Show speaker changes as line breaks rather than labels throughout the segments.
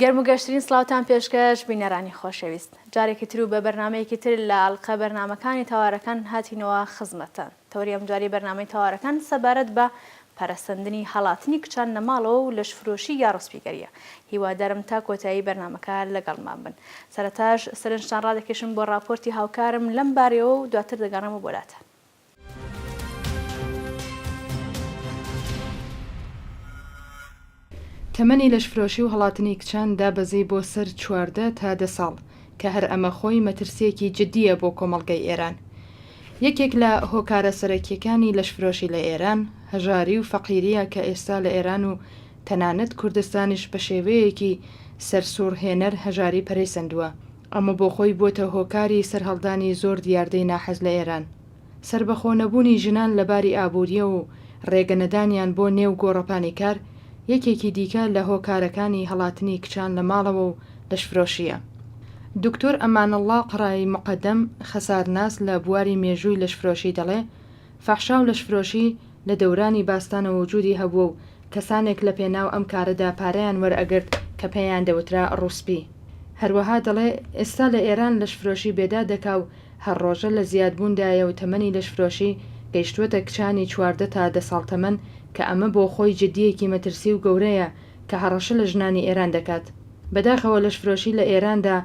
گەرم و گەشترین سڵاوتان پێشکەش بینەرانی خۆشەویست جارێکی تر و بە بەرنمەیەکی تر لە ئەلقە بەرنمەکانی تاوارەکان هاتینەوە خزمەتتان تەوری ئەم جاری بەرنمەی تاوارەکان سەبارەت بە پەرەسەندنی هەڵاتنی کچان لە ماڵەوە و لەشفرۆشی یا ڕسپیگەریە هیوادارم تا کۆتایی بەرنمەکە لەگەڵمان بن سەرەتاش سەرنجتان ڕادەکێشم بۆ ڕاپۆرتی هاوکارم لەم بارەیەوە و دواتر دەگەڕێمە بۆلاتان.
تەمەنی لەشفرۆشی و هەڵاتنی کچان دابەزی بۆ سەر چواردە تا دە ساڵ، کە هەر ئەمە خۆی مەترسییەکی جددییە بۆ کۆمەڵگەی ئێران. یەکێک لە هۆکارە سەرەکییەکانی لەشفرۆشی لە ئێران، هەژاری و فەقیرییە کە ئێستا لە ئێران و تەنانەت کوردستانیش بە شێوەیەکی سەرسووڕهێنەر هەژاری پەرەی سەندووە ئەمە بۆخۆی بووەتە هۆکاری سەرهەڵدانی زۆر دیاردەی ناحەز لە ئێران. سەربەخۆ نەبوونی ژنان لە باری ئابوورییە و رێگە نەدانیان بۆ نێو گۆڕەپانی کار، یەکێکی دیکە لە هۆکارەکانی هەڵاتنی کچان لە ماڵەوە و لەشفرۆشییە. دکتۆر ئەمانەڵڵا قەڕایی موقەدەم، خەسارناس لە بواری مێژووی لەشفرۆشی دەڵێ، فەحشا و لەشفرۆشی، لە دەورانی باستانەوە وجودی هەبووە و کەسانێک لە پێناو ئەم کارەدا پارەیان وەرئەگرت کە پێیان دەوترا ڕووسپی. هەروەها دەڵێ ئێستا لە ئێران لەشفرۆشی بێداد دەکا و هەر ڕۆژە لە زیاد بوون دایە و تەمەنی لەشفرۆشی گەیشتووەتە کچانی چواردە تا دە ساڵ تەمەن کە ئەمە بۆ خۆی جدییەکی مەترسی و گەورەیە کە هەڕەشە لە ژنانی ئێران دەکات. بەداخەوە لەشفرۆشی لە ئێراندا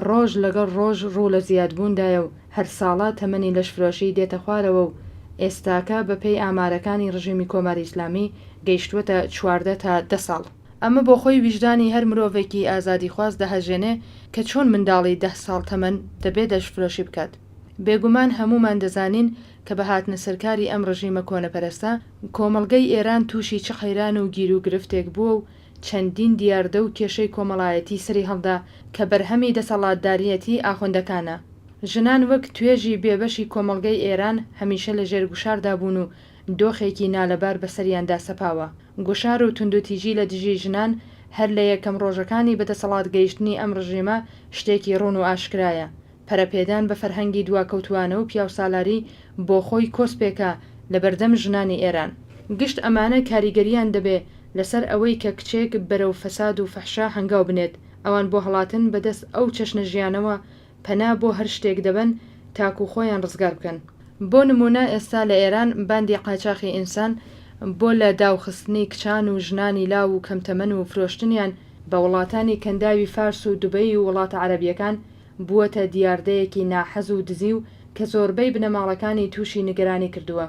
ڕۆژ لەگەڵ ڕۆژ ڕوو لە زیاد بوون دایە و هەر ساڵە تەمەنی لەشفرۆشی دێتە خوارەوە و ئێستاکە بە پێی ئامارەکانی ڕژێمی کۆماری ئیسلامی گەیشتووەتە چواردە تا دە ساڵ. ئەمە بۆ خۆی ویژدانی هەر مرۆڤێکی ئازادیخواز دەهەژێنێ کە چۆن منداڵی دە ساڵ تەمەن دەبێ لەشفرۆشی بکات. بێگومان هەموومان دەزانین کە بە هاتنە سەرکاری ئەم ڕژیمە کۆنەپەرستە، کۆمەڵگەی ئێران تووشی چ قەیران و گیروگرفتێک بووە و چەندین دیاردە و کێشەی کۆمەڵایەتی سەریهەڵدا کە بەرهەمی دەسەڵاتداریەتی ئاخوندەکانە. ژنان وەک توێژی بێبەشی کۆمەڵگەی ئێران هەمیشە لە ژێر گوشاردا بوون و دۆخێکی نالەبار بەسەریاندا سەپاوە. گوشار و توندوتیژی لە دژی ژنان هەر لە یەکەم ڕۆژەکانی بەدەسەڵات گەیشتنی ئەم ڕژیمە شتێکی ڕوون و ئاشکرایە. پەرەپێدان بە فەرهەنگی دواکەوتووانە و پیاوسالاری بۆخۆی کۆسپێکە لە بەردەم ژنانی ئێران. گشت ئەمانە کاریگەرییان دەبێ لەسەر ئەوەی کە کچێک بەرەو فەساد و فەحشا هەنگاو بنێت، ئەوان بۆ هەڵاتن بە دەست ئەو چەشنە ژیانەوە پەنا بۆ هەر شتێک دەبەن تاکوو خۆیان ڕزگار بکەن. بۆ نموونە ئێستا لە ئێران باندی قاچاخی ئینسان بۆ لە داوخستنی کچان و ژنانی لاو و کەمتەمەن و فرۆشتنیان بە وڵاتانی کەنداوی فارس و دوبەی و وڵاتە عەرەبییەکان بووەتە دیاردەیەکی ناحەز و دزی و کە زۆربەی بنەماڵەکانی تووشی نیگەرانی کردووە.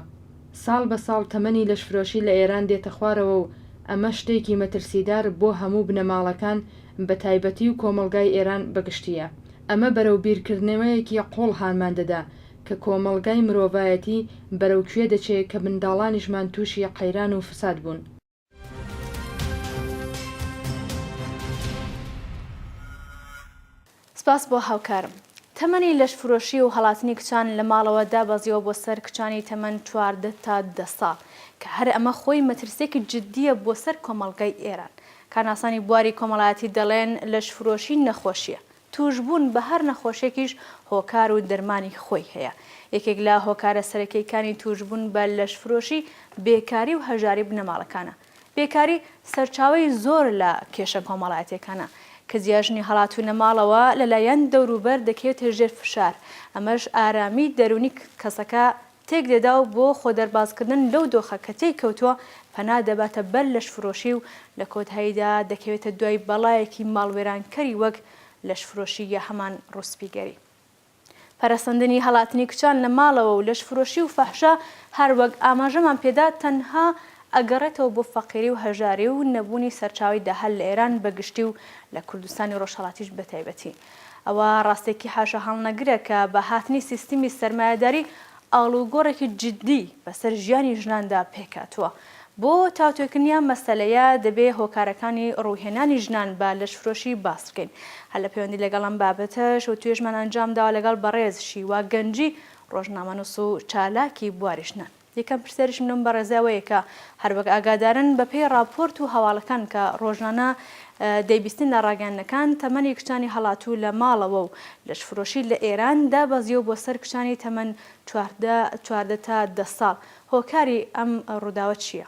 ساڵ بە ساڵ تەمەنی لەشفرۆشی لە ئێران دێتە خوارەوە و ئەمە شتێکی مەترسیدار بۆ هەموو بنەماڵەکان بە تایبەتی و کۆمەڵگای ئێران بە گشتییە. ئەمە بەرەو بیرکردنەوەیەکی قووڵ هانمان دەدا کە کۆمەڵگای مرۆڤایەتی بەرەو کوێ دەچێ کە منداڵانیشمان تووشی قەیران و فساد بوون.
سپاس بۆ هاوکارم. تەمەنی لەشفرۆشی و هەڵاتنی کچان لە ماڵەوە دابەزیوە بۆ سەر کچانی تەمەن چواردە تا دە ساڵ، کە هەر ئەمە خۆی مەترسییەکی جددییە بۆ سەر کۆمەڵگای ئێران. کارناسانی بواری کۆمەڵایەتی دەڵێن، لەشفرۆشی نەخۆشییە، توشبوون بە هەر نەخۆشێکیش هۆکار و دەرمانی خۆی هەیە. یەکێک لە هۆکارە سەرەکیەکانی توشبوون بە لەشفرۆشی بێکاری و هەژاری بنەماڵەکانە. بێکاری سەرچاوەی زۆر لە کێشە کۆمەڵایەتیەکانە. کز یا ژنی هەڵاتوونە ماڵەوە لەلایەن دەوروبەر دەکەوێتە ژێر فشار، ئەمەش ئارامی دەروونی کەسەکە تێک دەدا و بۆ خۆدەربازکردن لەو دۆخە کە تێی کەوتووە، پەنا دەباتە بەر لەشفرۆشی و لە کۆتاییدا دەکەوێتە دوای بەڵایەکی ماڵوێرانکەری وەک لەشفرۆشی یا هەمان ڕووسپیگەری. پەرەسەندنی هەڵاتنی کچان لە ماڵەوە و لەشفرۆشی و فەحشا، هەر وەک ئاماژەمان پێ دا، تەنها ئەگەڕێتەوە بۆ فەقیری و هەژاری و نەبوونی سەرچاوەی داهات لە ئێران بە گشتی و لە کوردستانی ڕۆژهەڵاتیش بە تایبەتی. ئەوە ڕاستێکی حاشاهەڵنەگرە کە بە هاتنی سیستمی سەرمایەداری ئاڵوگۆڕێکی جیددی بەسەر ژیانی ژناندا پێکهاتووە. بۆ تاوتوێکردنی ئەم مەسەلەیە دەبێ هۆکارەکانی ڕووهێنانی ژنان بە لەشفرۆشی باس بکەین. هەر لە پێوەندی لەگەڵ ئەم بابەتەش وتوێژمان ئەنجامداوە لەگەڵ بەڕێز شیوا گەنجی ڕۆژنامەنووس و چالاکی بواری ژنان. یەکەم پرسیاریشم لەم بەڕێزە ئەوەیە کە هەر وەک ئاگادارن بە پێی ڕاپۆرت و هەواڵەکان کە ڕۆژانە دەیبیستین لە ڕاگەیاندنەکان تەمەنی کچانی هەڵاتوو لە ماڵەوە و لەشفرۆشی لە ئێران دابەزیوە بۆ سەر کچانی تەمەن چواردە چواردە تا دە ساڵ هۆکاری ئەم ڕووداوە چییە؟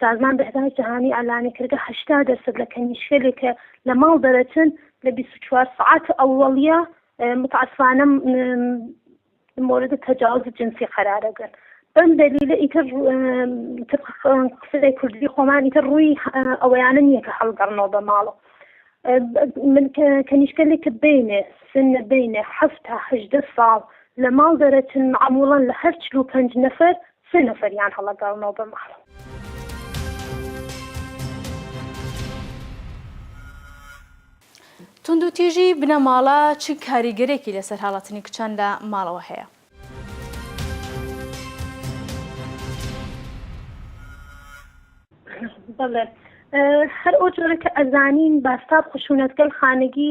سازمان بەهداشت جەهانی ئەلانی کردگە هەشتا دەرسەد لە کەنیشکەێ کە لە ماڵ دەرەچن لە بیست و چوار سەعات ئەوەڵیە متعسفانە مورد تەجاوز جنسی قەرارەگەن بەم دەلیلە ئیتر قسەی کوردی خۆمان ئیتر ڕووی ئەوەیانە نییە کە هەڵگەڕنەوە بە ماڵە من کەنیشکەێ کە بینێ سنە بینێ هەفتا هەدە ساڵ لە ماڵ دەرەچن معموڵەن لە هەر چلو پنج نەفەر سێ نەفەریان هەڵەگاڵنەوە
بە ماڵ. توندوتیژی بنەماڵە چ کاریگەرێکی لەسەر هەڵاتنی کچان لە ماڵەوە هەیە؟
بەڵێ هەر ئەو جۆرە کە ئەزانین باستاب خشونەت گەل خانگی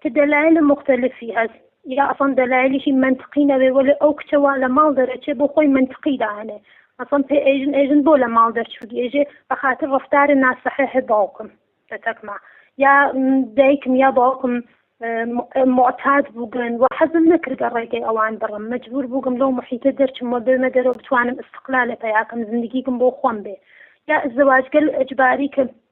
کە دەلایل موختەلفی هەس یا ئەسڵەن دەلایلیشی مەنتقی نەبێ وەلێ ئەو کچە وا لە ماڵ دەرەچێ بۆ خۆی مەنتقی دائەنێ ئەسڵەن پێ ئێژن ئێژن بۆ لە ماڵ دەرچووی ئێژێ بە خاتر ڕەفتارە ناسەحێحێ باوکم تەتەکما یا دایکم یا باوکم معتاد بووگن و حەزم نەکردە ڕێگەی ئەوان بڕم مەجبور بووگم لەو محیتە دەرچم و بێمە دەرەوە بتوانم استقلالە پەیاکەم زندگیکم بۆ خۆم بێ یا زەواجگەل ئەجباری کە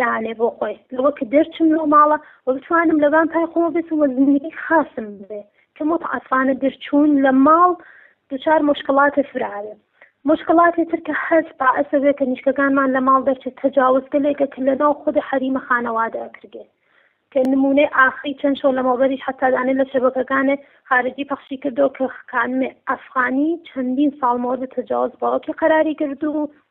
دانێ بۆ خۆی لەوە کە دەرچم لەو ماڵە و بتوانم لە بان پای خۆمە بێتم و زندگی خاصم بێ کە متعەتفانە دەرچوون لە ماڵ دوچار مشکلاتێ فراێ مشکلاتێ تر کە هەست بائەسە بێ کە نیشکەکانمان لە ماڵ دەرچێت تەجاوزگەلێکە کە لەناو خود حەریمە خانەوادە ئەکرێ کە نمونەی ئاخری چەند شەو لەمەوبەریش حتا دانێ لە شەبەکەکانێ خارجی پەخشی کردەوە کە خانمێ ئەفغانی چەندین ساڵ مەوەدە تەجاوز باوکی قەراری گردوو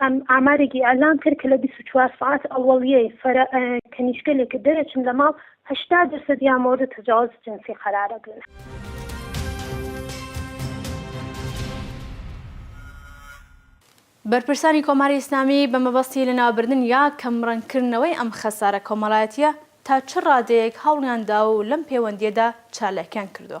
ئەم ئامارێکی ئیعلام کرد کە لە بیست و چوار سەعات ئەوەڵیەی فەرە کەنیشکەلێ کە دەرەچن لە ماڵ هەشتا دەرسەد یا مۆرد تەجاوز جنسی قەرارە گرن.
بەرپرسانی کۆماری ئیسلامی بە مەبەستی لەناوبردن یا کەمڕەنگکردنەوەی ئەم خەسارە کۆمەڵایەتییە تا چ ڕادەیەک هەوڵیان داوە و لەم پێوەندییەدا چالاکیان کردووە؟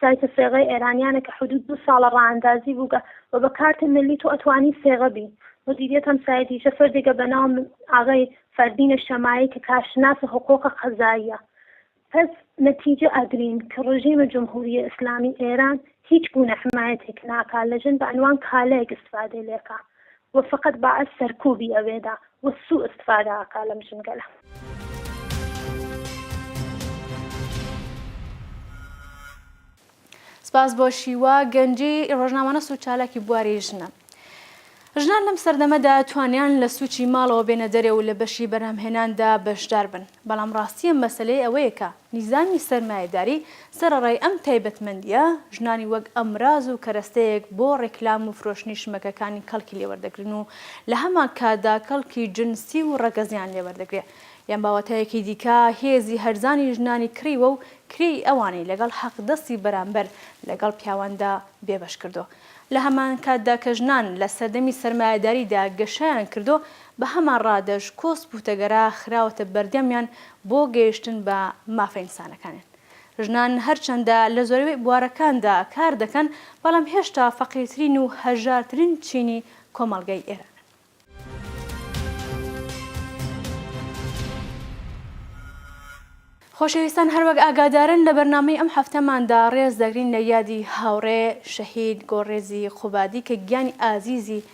سایتە سێغەی ئێرانیانە کە حدود دوو ساڵە ڕائەندازی بووگە وە بە کارت ملی تۆ ئەتوانی سێغە بی مدیریت ئەم سایتیشە فەردێگە بە ناو ئاغای فەردین الشماعی کە کارشناس حقوق قەزاییە پس نەتیجە ئەگرین کە ڕژیم جمهوری اسلامی ئێران هیچ گونە حمایەتێک ناکا لە ژن بە عنوان کالەیەک استفادەی لێکا وە فەقەت بەعس سەرکوبی ئەوێدا وە سوو استفادە
ئەکا لەم ژنگەلە. سپاس بۆ شیوا گەنجی ڕۆژنامەنوس و چالاکی بواری ژنە. ژنان لەم سەردەمەدا توانیان لە سوچی ماڵەوە بێنە دەرێ و لە بەشی بەرهەمهێناندا بەشدار بن بەڵام ڕاستیە مەسەلەی ئەوەیە کە نیزامی سەرمایەداری سەرەڕای ئەم تایبەتمەندییە، ژنانی وەک ئەمراز و کەرەستەیەک بۆ ڕێکلام و فرۆشتنی شمەکەکانی کەڵکی لێوەردەگرن و لە هەمان کاتدا کەڵکی جنسی و ڕەگەزیان لێوەردەگرێ. یان بە واتایەکی دیکە هێزی هەرزانی ژنانی کڕیوە و کرێی ئەوانی لەگەڵ حەقدەستی بەرامبەر لەگەڵ پیاواندا بێبەش کردۆ. لە هەمان کاتدا کە ژنان لە سەردەمی سەرمایەداریدا گەشەیان کردۆ، بە هەمان ڕادەش کۆسپ و تەگەرا خراوەتە بەردەمیان بۆ گەیشتن بە مافە ئینسانەکانیان. ژنان هەرچەندە لە زۆربەی بوارەکاندا کار دەکەن، بەڵام هێشتا فەقیرترین و هەژارترین چینی کۆمەڵگای ئێرانن. خۆشەویستان هەروەک ئاگادارن لە بەرنامەی ئەم هەفتەماندا ڕێز دەگرین لە یادی هاوڕێ شەهید گۆڕێزی قوبادی کە گیانی ئازیزی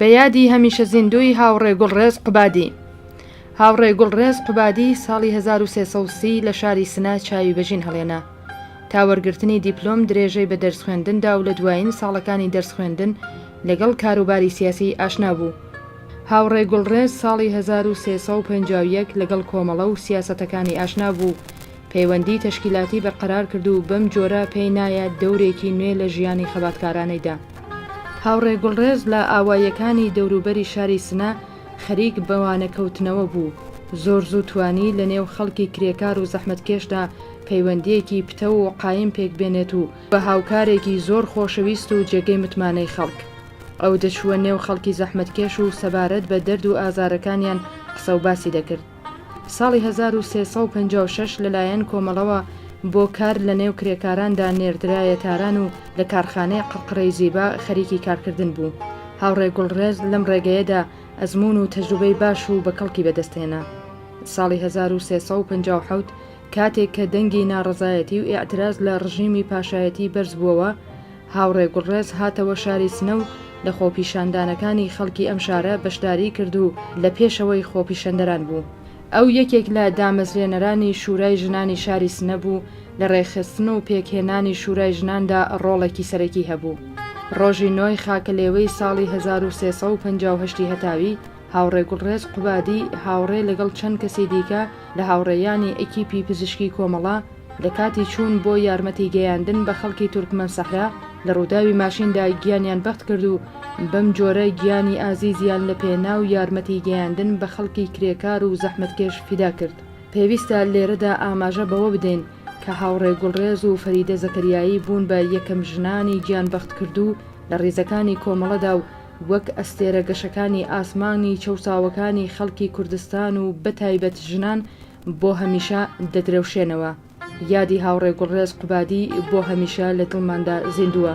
بە یادی هەمیشە زیندووی هاوڕێ گوڵڕێز قوبادی هاوڕێ گوڵڕێز قوبادی ساڵی 1930 لە شاری سنە چاوی بەژین هەڵێنا تا وەرگرتنی دیپلۆم درێژەی بە دەرس خوێندندا و لە دوایین ساڵەکانی دەرس خوێندن لەگەڵ کاروباری سیاسی ئاشنا بوو هاوڕێ گوڵڕێز ساڵی هەزار و سێ سەد و پەنجا و یەک لەگەڵ کۆمەڵە و سیاسەتەکانی ئاشنا بوو و پەیوەندیی تەشکیلاتی بەرقەرار کرد و بەم جۆرە پێی نایە دەورێکی نوێ لە ژیانی خەباتکارانەی دا. هاوڕێ گوڵڕێز لە ئاواییەکانی دەوروبەری شاری سنە خەریک بە وانەکەوتنەوە بوو، زۆر زوو توانی لە نێو خەڵکی کرێکار و زەحمەتکێشدا پەیوەندییەکی پتەو و قایم پێک بێنێت و بە هاوکارێکی زۆر خۆشەویست و جێگەی متمانەی خەڵک، ئەو دەچووە نێو خەڵکی زەحمەتکێش و سەبارەت بە دەرد و ئازارەکانیان قسە و باسی دەکرد. ساڵی هەزار و سێ سەد و پەنجا و شەش لەلایەن کۆمەڵەوە بۆ کار لە نێو کرێکاراندا نێردرایە تاران و لە کارخانەی قەرقرەی زیبا خەریکی کارکردن بوو. هاوڕێ گوڵڕێز لەم ڕێگەیەدا ئەزموون و تەجروبەی باش و بە کەڵکی بەدەست هێنا. ساڵی هەزار و سێ سەد و پەنجا و حەوت کاتێک کە دەنگی ناڕەزایەتی و ئیعتراز لە ڕژیمی پاشایەتی بەرز بووەوە، هاوڕێ گوڵڕێز هاتەوە شاری سنە و لە خۆپیشاندانەکانی خەڵکی ئەم شارە بەشداریی کرد و لە پێشەوەی خۆپیشەندەران بوو. ئەو یەکێک لە دامەزرێنەرانی شورای ژنانی شاری سنە بوو و لە ڕێکخستن و پێکهێنانی شورای ژناندا ڕۆڵێکی سەرەکی هەبوو. ڕۆژی نۆی خاکەلێوەی ساڵی هەزار و سێ سەد و پەنجا و هەشت ی هەتاوی، هاوڕێ گوڵڕێز قوبادی هاوڕێ لەگەڵ چەند کەسی دیکە لە هاوڕێیانی ئەکیپی پزیشکی کۆمەڵە، لە کاتی چوون بۆ یارمەتی گەیاندن بە خەڵکی تورکمەن سەحرا، لە ڕووداوی ماشیندا گیانیان بەخت کرد و بەم جۆرە گیانی ئازیزیان لە پێناو یارمەتی گەیاندن بە خەڵکی کرێکار و زەحمەتکێش فیدا کرد. پێویستە لێرەدا ئاماژە بەوە بدەین کە هاوڕێ گوڵڕێز و فەریدە زەکەریایی بوون بە یەکەم ژنانی گیانبەختکردوو لە ڕیزەکانی کۆمەڵەدا و، وەک ئەستێرە گەشەکانی ئاسمانی چەوساوەکانی خەڵکی کوردستان و بەتایبەت ژنان بۆ هەمیشە دەدرەوشێنەوە. یادی هاوڕێ گوڵڕێز قوبادی بۆ هەمیشە لە دڵماندا زیندووە.